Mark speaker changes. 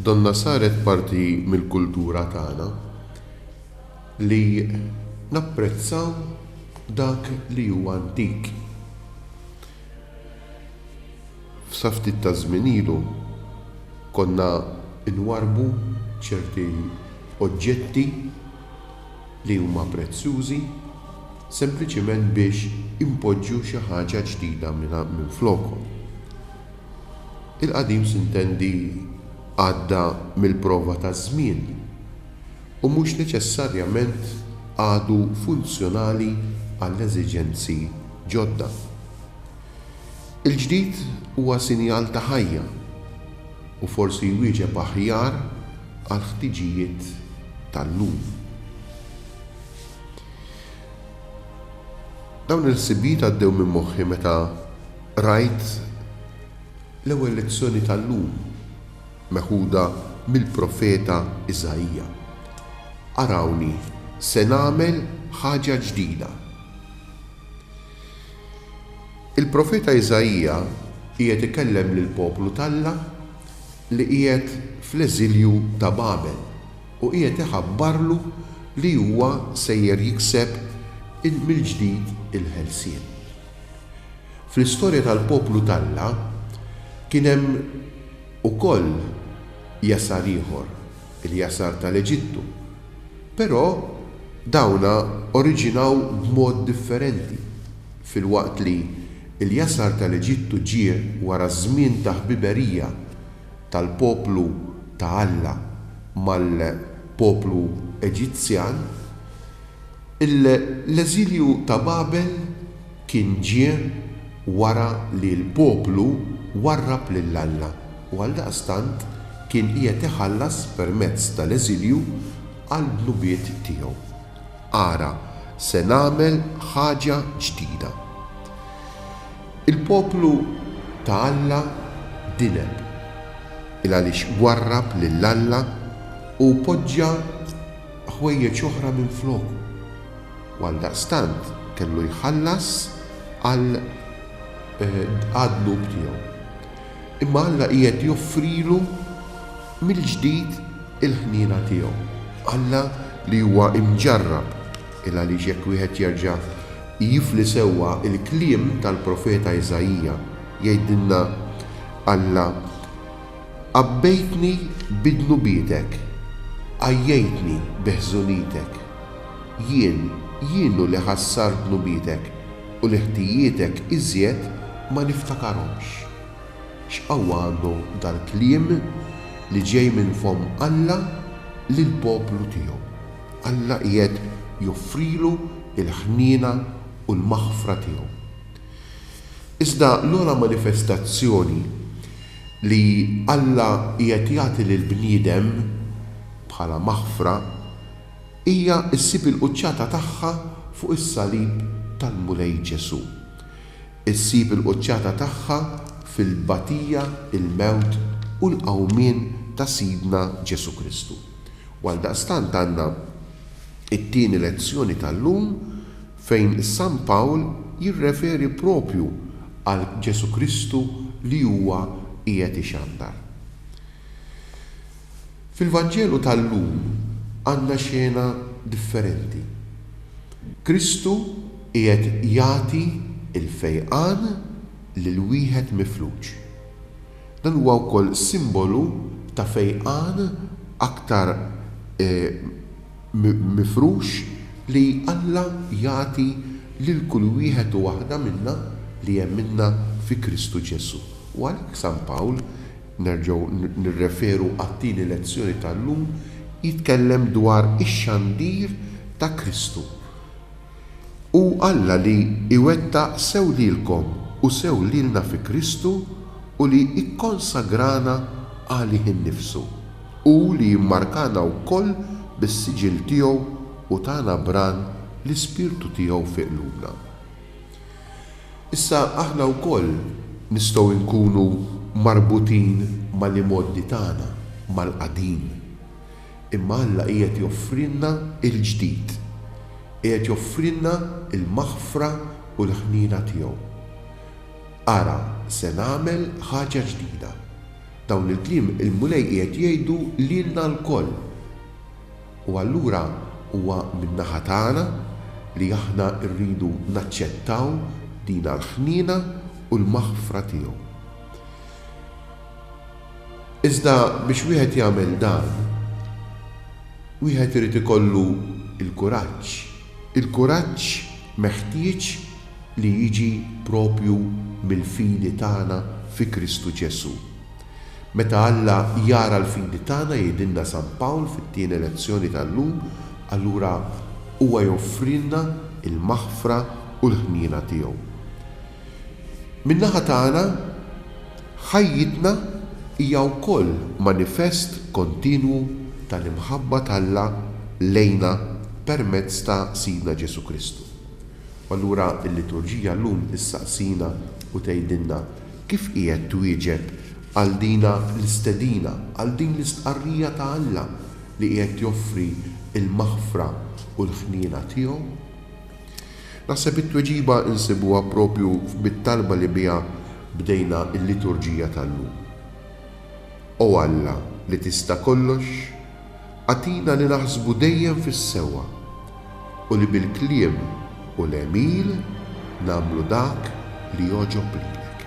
Speaker 1: Donnha saret parti mill-kultura tagħna li napprezzaw dak li hu antik. Sa ftit taż-żmien ilu konna nwarrbu ċerti oġġetti li huma prezzjużi sempliċiment biex inpoġġu xi ħaġa ġdida minflokhom. Il-qadim sintendi għadda mill-prova taż-żmien u mhux neċessarjament għadu funzjonali għall-eżiġenzi ġodda. Il-ġdid huwa sinjal ta' ħajja u forsi jwieġeb aħjar għall-ħtiġijiet tal-lum. Dawn il-ħsibijiet għaddew minn moħħi meta Qrajt l-ewwel lezzjoni tal-lum meħuda mill-profeta Iżaija. Arawni se nagħmel ħaġa ġdida. Il-profeta Iżaija qiegħed ikellem lill-poplu t'Alla li qiegħed fl-eżilju ta' Babel u qiegħed iħabbarlu li huwa sejjer jikseb mill-ġdid il-ħelsien. Fl-istorja tal-poplu t'Alla kien hemm ukoll jasar ieħor, il-jasar tal-Eġittu. Però dawn oriġinaw b'mod differenti. Filwaqt li l-jasar tal-Eġittu ġie wara żmien ta' ħbiberija tal-poplu ta' Alla mal-poplu Eġizzjan, L-eżilju ta' Babel kien ġie wara li l-poplu warrab lil Alla u għaldaqstant kien qiegħed iħallas permezz tal-eżilju għall-dnubiet tiegħu. Ara, se nagħmel ħaġa ġdida. Il-poplu ta' Alla dineb, il għaliex warrab lil Alla u poġġa ħwejjeġ oħra minfloku, u għaldaqstant kellu jħallas għal għad-dnub tiegħu. Imma Alla qiegħed joffrilu mill-ġdid il-ħniena tiegħu. Alla li huwa imġarrab, il-għaliex jekk wieħed jerġa' jifli sewwa l-kliem tal-profeta Iżaija, jgħidilna Alla Għabbejtni bi dnubietek, għajjejtni bi ħżunitek. Jien, jien hu li ħassart dnubietek, u l-ħtijietek iżjed ma niftakarhomx. X'qawwa għandu dal-kliem li ġej minn fomm Alla lill-poplu tiegħu! Alla qiegħed joffrilu l-ħniena u l-maħfra tiegħu. Iżda l-ogħla manifestazzjoni Li Alla qiegħed jagħti lill-bniedem bħala maħfra hija ssib il-quċċata tagħha fuq is-salib tal-Mulej Ġesù. Issib il-quċċata tagħha fil-tbatija, il-mewt u l-qawmien ta' Sidna Ġesù Kristu. U għaldaqstant għandna t-tieni lezzjoni tal-lum, fejn San Pawl jirreferi proprju għal Ġesù Kristu li huwa qiegħed ixandar. Fil-Vanġelu tal-lum għandna xena differenti. Kristu qiegħed jagħti l-fejqan lil wieħed mifluġ. Dan huwa wkoll simbolu ta' fejqan aktar mifrux li Alla jagħti lil kull wieħed u waħda minna li emminna fi Kristu Ġesù. U għalhekk San Pawl, nerġgħu nirreferu għat-tieni lezzjoni tal-lum, jitkellem dwar ix-xandir ta' Kristu. Hu Alla li jwettaq sew lilkom u sew lilna fi Kristu u li jikkonsagrana għalih innifsu. Hu li jimmarkana wkoll bis-siġill tiegħu u tana bran l-Ispirtu tiegħu fi qlubna. Issa aħna wkoll nistgħu nkunu marbutin mal-imgħoddi tagħna, mal-qadim. Imma Alla qiegħed joffrilna l-ġdid. Qiegħed joffrilna l-maħfra u l-ħniena tiegħu. Ara, se nagħmel ħaġa ġdida. Dawn il-kliem il-Mulej qiegħed jgħidu lilna lkoll. U allura huwa min-naħa tagħna li aħna rridu naċċettaw dina l-ħniena u l-maħfra tiegħu. Iżda biex wieħed jagħmel dan, wieħed irid ikollu l-kuraġġ, il-kuraġġ meħtieġ li jiġi proprju mill-fidi tagħna fi Kristu Ġesù. Meta Alla jara l-fidi tagħna, jgħidilna San Pawl fit-tieni lezzjoni tal-lum, allura Huwa joffrilna l-maħfra u l-ħniena tiegħu. Min-naħa tagħna, ħajjitna hija wkoll manifest kontinwu tal-imħabba t'Alla lejna permezz ta' Sidna Ġesù Kristu. U allura l-liturġija llum issaqsina u tgħidilna kif qiegħed twieġeb għal dina l-istedina, għal din l-istqarrija ta' Alla li qiegħed joffri l-maħfra u l-ħniena tiegħu. Naħseb it-tweġiba nsibuha proprju mit-talba li biha bdejna l-liturġija tal-lum. O Alla li tista' kollox, agħtina li naħsbu dejjem fis-sewwa u li bil-kliem u l-għemil nagħmlu dak li jogħġob lilek.